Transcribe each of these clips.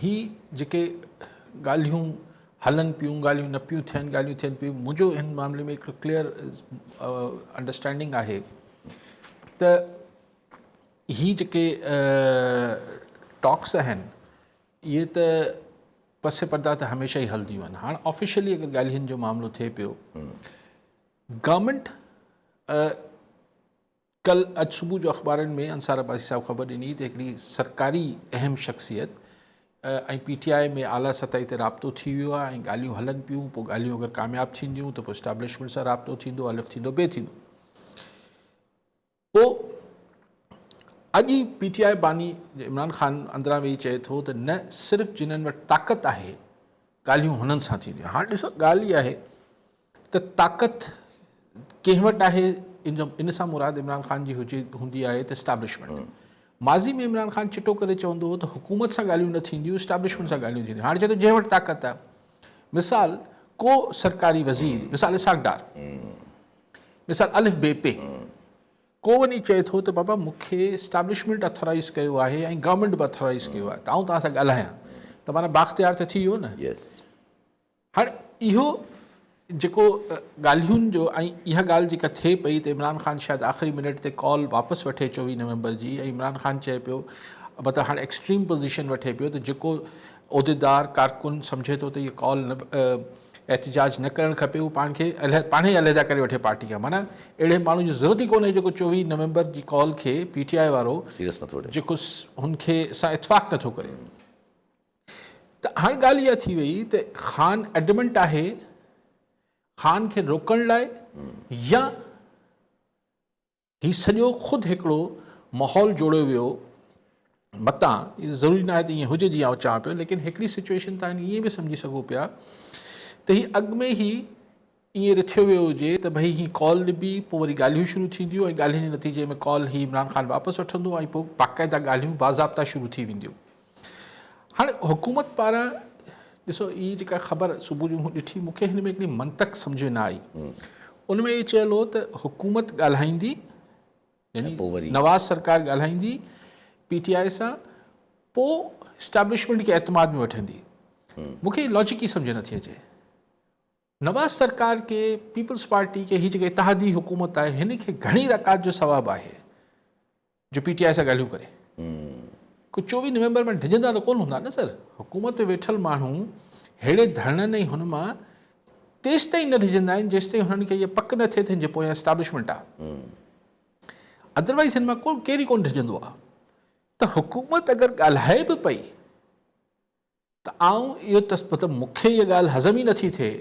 هي جيڪي ڳالهيون هلن پيون، ڳالهيون نه پيون ٿين، ڳالهيون ٿين پيون، منهنجو هن معاملي ۾ هڪڙو ڪليئر انڊرسٽينڊنگ آهي ته هي جيڪي ٽاڪس آهن اهي ته پس پردا ته هميشه ئي هلنديون آهن هاڻ آفيشلي اگر ڳالهين جو معاملو ٿئي پيو گورنمنٽ ڪل اڄ صبح جو اخبارن ۾ انصار عباسي صاحب خبر ڏني ته هڪڙي سرڪاري اهم شخصيت ۽ پي ٽي آء ۾ اعليٰ سطحي تي رابطو ٿي ويو آهي ۽ ڳالهيون هلن پيون پوء ڳالهيون اگر ڪامياب ٿينديون ته پوء اسٽابلشمينٽ سان رابطو ٿيندو الف ٿيندو بي ٿيندو پوء اڄ ئي پي ٽي آء باني عمران خان اندران ويهي چئي ٿو ته نه صرف جنن وٽ طاقت آهي ڳالهيون هنن سان ٿينديون هاڻ ڏسو ڳالهه اها آهي ته طاقت ڪنهن وٽ آهي، ان سان مراد عمران خان جي هوندي آهي ته اسٽابلشمينٽ. ماضي ۾ عمران خان چٽو ڪري چوندو هو ته حڪومت سان ڳالهيون نه ٿينديون، اسٽابلشمينٽ سان ڳالهيون ٿينديون. هاڻي چئي ٿو جنهن وٽ طاقت آهي. مثال ڪو سرڪاري وزير، مثال اسحاق ڊار، مثال الف بي پي، ڪو وڃي چئي ٿو ته بابا مون کي اسٽابلشمينٽ اٿورائيز ڪيو آهي ۽ گورنمينٽ به اٿورائيز ڪيو آهي ته آئون توهان سان ڳالهايان ته معنيٰ بااختيار ته ٿي ويو نه. هاڻ اهو جيڪو ڳالهين جو ۽ اها ڳالهه جيڪا ٿئي پئي ته عمران خان شايد آخري منٽ تي ڪال واپس وٺي چوويهه نومبر جي ۽ عمران خان چئي پيو مطلب هاڻ ايڪسٽريم پوزيشن وٺي پيو ته جيڪو عهديدار ڪارڪن سمجهي ٿو ته اهي ڪال احتجاج نه ڪرڻ کپي اهو پاڻ کي پاڻ ئي علحده ڪري وٺي پارٽي کان معنيٰ اهڙي ماڻهو جي ضرورت ئي ڪونهي جيڪو چوويهه نومبر جي ڪال کي پي ٽي آء وارو جيڪو هن کي سان اتفاق نٿو ڪري ته هاڻ ڳالهه اها ٿي وئي ته خان ايڊمنٽ آهي خان کي روڪڻ لاء يا هي سڄو خود هڪڙو ماحول جوڙيو ويو متان ضروري ناهي ته ائين هجي جيئن آء چوان پيو ليڪن هڪڙي سچويشن تان ائين به سمجهي سگهو پيا ته هي اڳ ۾ هي ائين رٿيو ويو هجي ته ڀئي هي ڪال نبي پوء وري ڳالهيون شروع ٿينديون ۽ ڳالهين جي نتيجي ۾ ڪال هي عمران خان واپس وٺندو ۽ پوء باقاعده ڳالهيون باضابطا شروع ٿي وينديون هاڻي حڪومت پاران ڏسو هي جيڪا خبر صبح جو مون ڏٺي مون کي هن ۾ هڪڙي منطق سمجھ ۾ نه آئي ان ۾ اهو چيل هو ته حڪومت ڳالهائيندي يعني نواز سرڪار ڳالهائيندي پي ٽي آء سان پوء اسٽيبلشمنٽ کي اعتماد ۾ وٺندي مون کي لاجڪ ئي سمجھ نٿي اچي نواز سرڪار کي پيپلز پارٽي کي هي جيڪا اتحادي حڪومت آهي هن کي گهڻي رڪات جو ثواب آهي جو پي ٽي آء سان ڳالهيون ڪري ڪو چوويهه نومبر ۾ ڊڄندا ته ڪون هوندا نه سر حڪومت ۾ ويٺل ماڻهو ههڙي ڌرڻن ۽ هن مان تيستائين نه ڊڄندا آهن جيستائين هنن کي اها پڪ نه ٿئي ته هن جي پويان اسٽابلشمنٽ آهي ادروائز هن مان ڪو ڪير ئي ڪون ڊڄندو آهي ته حڪومت اگر ڳالهائي به پئي ته آئون اهو ته مطلب مون کي اها ڳالهه هضم ئي نٿي ٿئي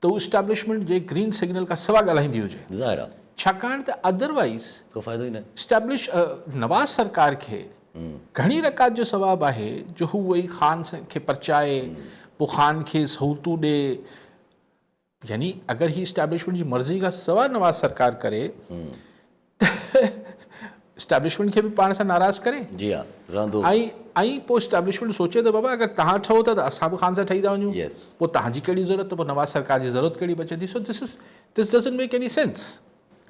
ته هو اسٽيبلشمينٽ جي گرين سگنل کان سوا ڳالهائيندي هجي. ظاهر آ. ڇاڪاڻ ته ادر وائيز ڪو فائدو ئي ناهي. اسٽيبلش نواز سرڪار کي گهڻي رڪات جو ثواب آهي جو هو وئي خان کي پرچائي پوء خان کي سهولتون ڏي. يعني اگر هي اسٽيبلشمينٽ جي مرضي کان سواء نواز سرڪار ڪري ته اسٽيبلشمينٽ کي به پاڻ سان ناراض ڪري جي ها رهندو ۽ پوء اسٽيبلشمينٽ سوچي ته بابا اگر توهان ٺهو ٿا ته اسان به خان سان ٺهي ٿا وڃون پوء توهان جي ڪهڙي ضرورت ته پوء نواز سرڪار جي ضرورت ڪهڙي بچي ٿي so this is this doesn't make any sense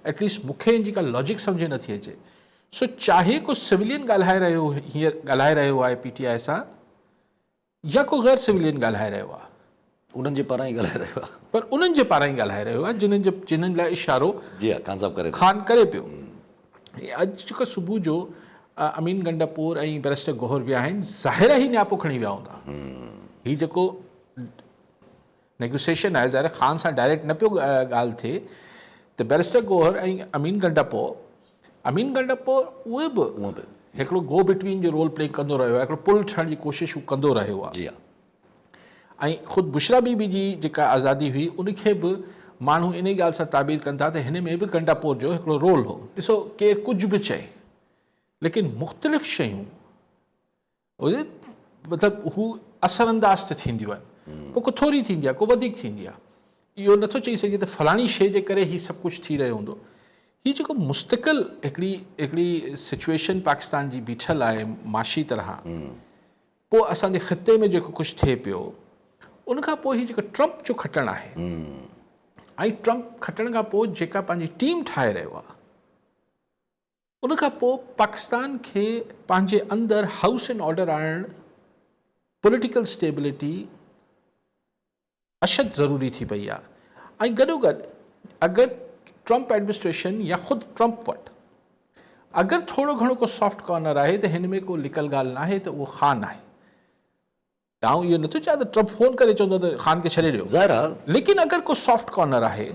at least مون کي ان جي ڪا لاجڪ سمجهه نٿي اچي سو چاهي ڪو سولين ڳالهائي رهيو هيئر ڳالهائي رهيو آهي پي ٽي آء سان يا ڪو غير سولين ڳالهائي رهيو آهي. انهن جي پاران ئي ڳالهائي رهيو آهي. پر انهن جي پاران ئي ڳالهائي رهيو آهي جنهن جي چنن لاء اشارو خان ڪري پيو. ۽ اڄ جيڪو صبح جو امين گنڊاپور ۽ بئريسٽر گوهر ويا آهن ظاهر آهي هي نياپو کڻي ويا هوندا. هي جيڪو نيگوسيشن آهي ظاهر خان سان ڊائريڪٽ نه پيو ڳالهه ٿئي ته بيرسٽر گوهر ۽ امين گنڊپو امين گنڊپو اهي به هڪڙو گو بٽوين جو رول پلي ڪندو رهيو آهي هڪڙو پل ٺهڻ جي ڪوشش هو ڪندو رهيو آهي جي ۽ خود بشرا بي بي جي جيڪا آزادي هئي ان کي به ماڻهو انهي ڳالهه سان تعبير ڪن ٿا ته هن ۾ به گنڊپو جو هڪڙو رول هو ڏسو ڪير ڪجهه به چئي ليڪن مختلف شيون هجي مطلب هو اثر انداز ته ٿينديون آهن پوء ڪو ٿوري ٿيندي آهي ڪو وڌيڪ ٿيندي آهي اهو نٿو چئي سگهجي ته فلاڻي شي جي ڪري هي سڀ ڪجهه ٿي رهيو هوندو هي جيڪو مستقل هڪڙي هڪڙي سچويشن پاڪستان جي بيٺل آهي معاشي طرح پوء اسان جي خطي ۾ جيڪو ڪجهه ٿئي پيو ان کان پوء هي جيڪو ٽرمپ جو کٽڻ آهي ۽ ٽرمپ کٽڻ کان پوء جيڪا پنهنجي ٽيم ٺاهي رهيو آهي ان کان پوء پاڪستان کي پنهنجي اندر هائوس اينڊ آرڊر آڻڻ، پوليٽيڪل اسٽيبلٽي اشد ضروري ٿي پئي آهي ۽ گڏوگڏ اگر ٽرمپ ايڊمنسٽريشن يا خود ٽرمپ وٽ اگر ٿورو گهڻو ڪو سافٽ ڪارنر آهي ته هن ۾ ڪو لڪل ڳالهه ناهي ته اهو خان آهي. آئون اهو نٿو چاهيان ته ٽرمپ فون ڪري چوندو ته خان کي ڇڏي ڏيو. ظاهر آهي. ليڪن اگر ڪو سافٽ ڪارنر آهي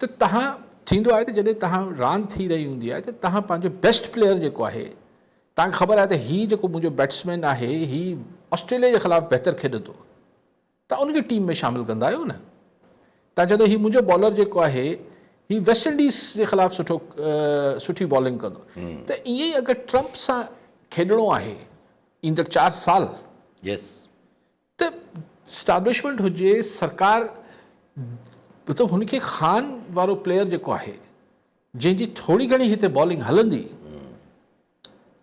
ته تهان ٿيندو آهي ته جڏهن تهان راند ٿي رهي هوندي آهي ته تهان پنهنجو بيسٽ پليئر جيڪو آهي تهان کي خبر آهي ته هي جيڪو منهنجو بيٽسمين آهي هي آسٽريليا جي خلاف بهتر کيڏندو توهان ان کي ٽيم ۾ شامل ڪندا آهيو نه توهان چئو ٿا هي منهنجو بالر جيڪو آهي هي ويسٽ انڊيز جي خلاف سٺو سٺي بالنگ ڪندو ته ائين ئي اگر ٽرمپ سان کيڏڻو آهي ايندڙ چار سال يس ته اسٽابلشمنٽ هجي سرڪار مطلب هن کي خان وارو پليئر جيڪو آهي جنهن جي ٿوري گهڻي هتي بالنگ هلندي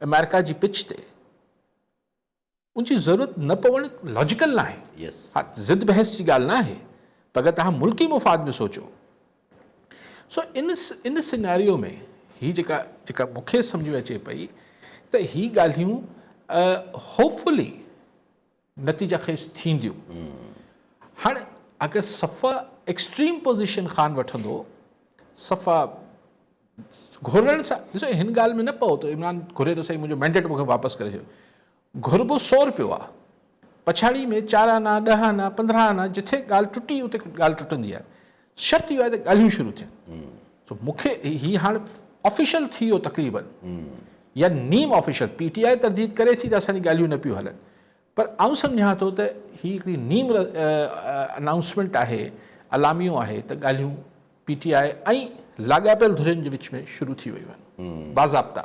امريڪا جي پچ تي ان جي ضرورت نه پوڻ لاجيڪل ناهي. ها ضد بحث جي ڳالهه ناهي پر اگر توهان ملڪي مفاد ۾ سوچو سو ان ان سيناريو ۾ هي جيڪا جيڪا مون کي سمجھ ۾ اچي پئي ته هي ڳالهيون هوپ فلي نتيجا خيز ٿينديون هاڻي اگر صفا ايڪسٽريم پوزيشن خان وٺندو صفا گهرڻ سا ڏسو هن ڳالهه ۾ نه پئو ته عمران گهري ٿو سائين منهنجو مينڊيٽ مونکي واپس ڪري ڇڏيو گهربو سو رپيو آ پڇاڙي ۾ چار آنا ڏهه آنا پندرهن آنا جٿي ڳالهه ٽٽي اتي ڳالهه ٽٽندي آ شرط اهو آ ته ڳالهيون شروع ٿين سو مونکي هي هاڻ آفيشل ٿي ويو تقريبن يا نيم آفيشل پي ٽي آء ترديد ڪري ٿي ته اسان جي ڳالهيون نه پيون هلن پر آئون سمجهان ٿو ته هي هڪڙي نيم انائونسمينٽ آهي، اعلاميو آهي ته ڳالهيون پي ٽي آء ۽ لاڳاپيل ڌرين جي وچ ۾ شروع ٿي ويون آهن. باضابطا.